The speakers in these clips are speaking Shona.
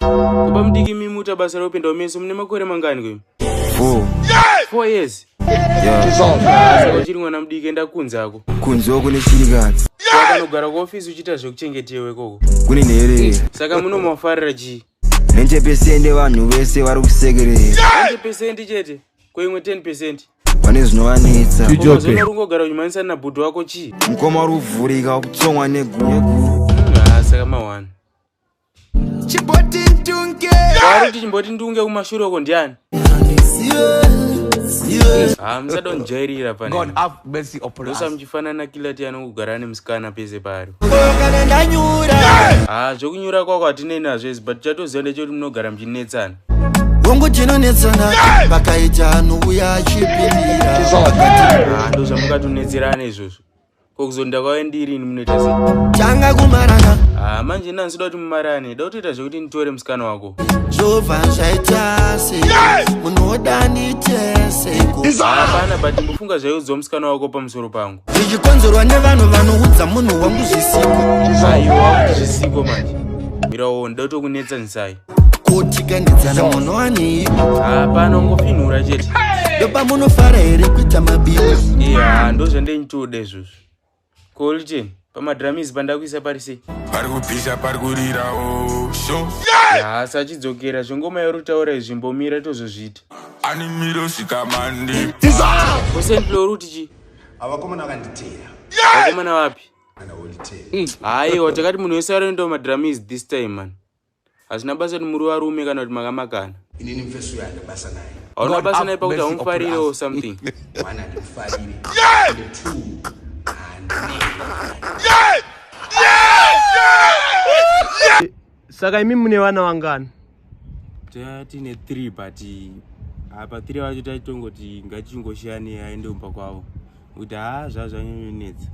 Baba mudiki imi muta basa rekupinda umeso mune makore mangani kwe? Four. Yes! Four years? Yeah. Uchiri mwana mudiki enda kunze ako. Kunze uko nechirikadzi. Wakanogara kuofisi uchiita zvekuchengetewe ikoko. Kune nhere. Saka munomafarira chii? Nenje pesende vanhu vese vari kusekerera. Nenje pesende chete? Ko imwe 10 pesende? pane zvinovanetsa unogara uchimanisa nabhudhu wako chii mukoma uri kuvhurika wakutsongwa negunyeguru hmm, saka mawani chimboti ndunge vari kuti chimboti ndunge kumashure uko ndiani ah, musadonjairira panosamuchifanana kila ti anongogara ane musikana pese paari ah, zvekunyura kwako hatinei nazvo isi but chatoziva ndechekuti munogara muchinetsana hongu tinonetsana vakaita anouya achipindira ah, ndozvamukatonetserana izvozvo ko kuzonda kwave ndiri ini munoita se tanga kumarana ah manje nani soda kuti mumarane da kutoita zvekuti nditore musikana wako zvova zvaita se munoda nitese hapana but mbofunga zvaiudzwa musikana wako pamusoro pangu zvichikonzerwa nevanhu vanoudza munhu wangu zvisiko aiwa zvisiko manje mirawo ndotokunetsa nzai kotikandidzana munhu anei hapana ngofinhura chete doba munofara here kuita mabiwa iya ndozvandenyitoda izvozvo kolchen pamadramisi pandakuisa pari sei pari kupisa pari kurirawo sho hasi achidzokera zvengoma yorutaura izvi mbomira tozozviita ani miro sikamandi osendlo ruti chi avakomana vakanditeera vakomana vapi hayiwa takati munhu wese aroenda madramis this time man Hazvina basa kuti muri varume kana kuti makamakana. Inini mfeso uyo handina basa naye. Hauna basa naye pakuti haumufarire or something. One handimufarire. Yeah! And two Yeah! Yeah! Yeah! Saka imi mune vana vangani? Tine 3 but apa ah, 3 vacho taitongoti ngatichingoshiyanei aende kumba kwavo. Kuti haa ah, zvazvanyanyonetsa.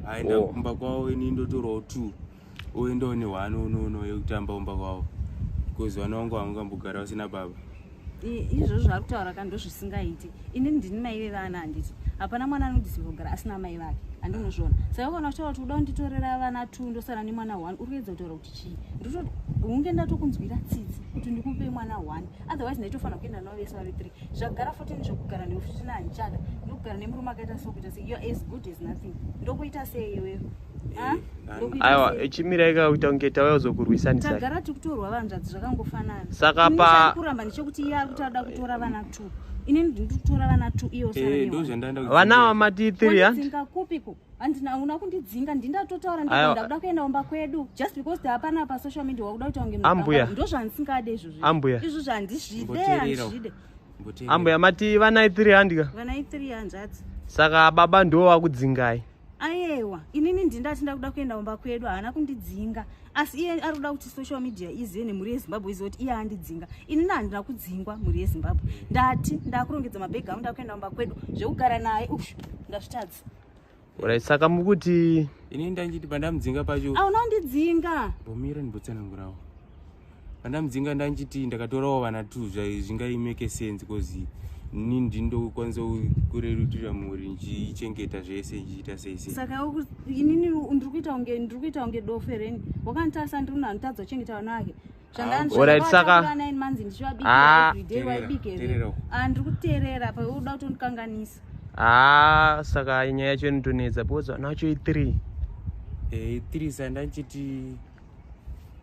Aenda oh. kumba kwavo ini ndotorawo 2. uye ndo ne one unono yekutamba umba kwavo because vana vangu vangambogara vasina baba izvozvo zvaari kutaura ka ndozvisingaiti inini ndini mai vevana handiti hapana mwana anodisirwa kugara asina mai vake handinozviona saka ukaona kutaura kuti uda kunditorera vana two ndosara nemwana one uri kuedza kutaura kuti chii ndototi hunge ndatokunzwira tsitsi kuti ndikupe mwana one otherwise ndaitofanira kuenda navo vese vave three zvagara fourteen zvekugara newe futi nahandichada ndokugara nemurume akaita so kuita se youare as good as nothing ndokuita sei iwewe aiwa chimirai ka kuita kunge tauya kuzokurwisanisatagara tikutorwa vanzvadzi zvakangofanana saka pakuramba ndechekuti iye ari kuti ada kutora vana two ini ndiri kutora vana two iyo eh, vana vamati three handidzinga kupiko handina una kundidzinga ndindatotaura ndikuenda kuda kuenda kumba kwedu just because hapana pa social media wakuda kuita kunge ambuya ndo zvandisingade izvozvo ambuya izvo zvandizvide handizvide ambuya mati vanai three handika vanai three hanzvadzi saka baba ndiwo vakudzingai ayewa inini ndini ndati ndakuda kuenda kumba kwedu haana kundidzinga asi iye ari kuda kuti social media izive nemhuri yezimbabwe izive kuti iye andidzinga inini handina kudzingwa mhuri yezimbabwe ndati ndakurongedza mabhegi angu ndakuenda kumba kwedu zvekugara naye u ndazvitadza orit saka mukuti inini ndanditi pandamudzinga pacho hauna kundidzinga bomira ndibotsanangurawo pandamudzinga ndanchiti ndakatorawo vana two zvingaimeke sense bcause ini ndindokwanisa kurerutira mhuri ndichichengeta zvese ndichiita sei sei saka inini ndiri kuita kunge ndiri kuita kunge dofe reni wakanditarisa ndiri munhu anotadza kuchengeta vana vake zvandaanzvandaanzi ndichivabiaeveryday waibike here andiri kuteerera pa uda kutondikanganisa haa saka nyaya yacho inotonetsa because vana vacho i three e three sandanchiti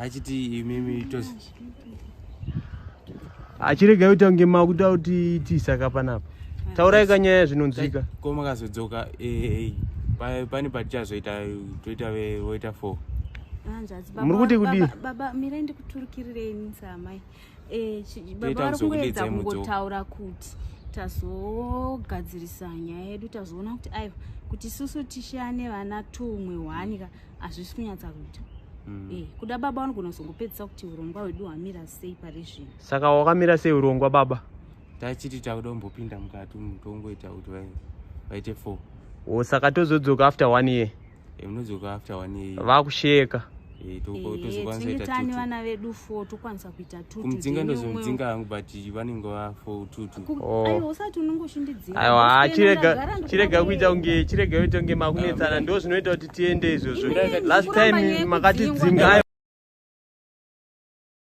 achiti imimi itosi achirega kuti ange makuda kuti tiisaka panapa taurai kanyaya zvinonzwika ko makazodzoka eh, eh, pane patichazoita toita voita four muri kuti kudii baba mirai ndikuturukirirei nisa amai eh, baba vari kungoedza kungotaura kuti tazogadzirisa nyaya yedu tazoona kuti aiwa kuti susu tishane vana tumwe hwani ka hazvisi kunyatsa kuita mm. eh, kuda baba vanogona kuzongopedzisa kuti urongwa hwedu hwamira sei pari zvino saka wakamira sei urongwa baba tachiti takuda kumbopinda mukati mutongoita kuti vaite four o oh, saka tozodzoka after one year munodzoka after one year vakusheka eh, tokwanisa vana vedu fo tokwanisa kuita kumudzinga ndozomudzinga hangu but vanenge vafo tutuaiwa oh. chirega kuita kunge chirega kuita kunge makunetsana ah, ndo zvinoita kuti tiende izvozvo last time makatidzinga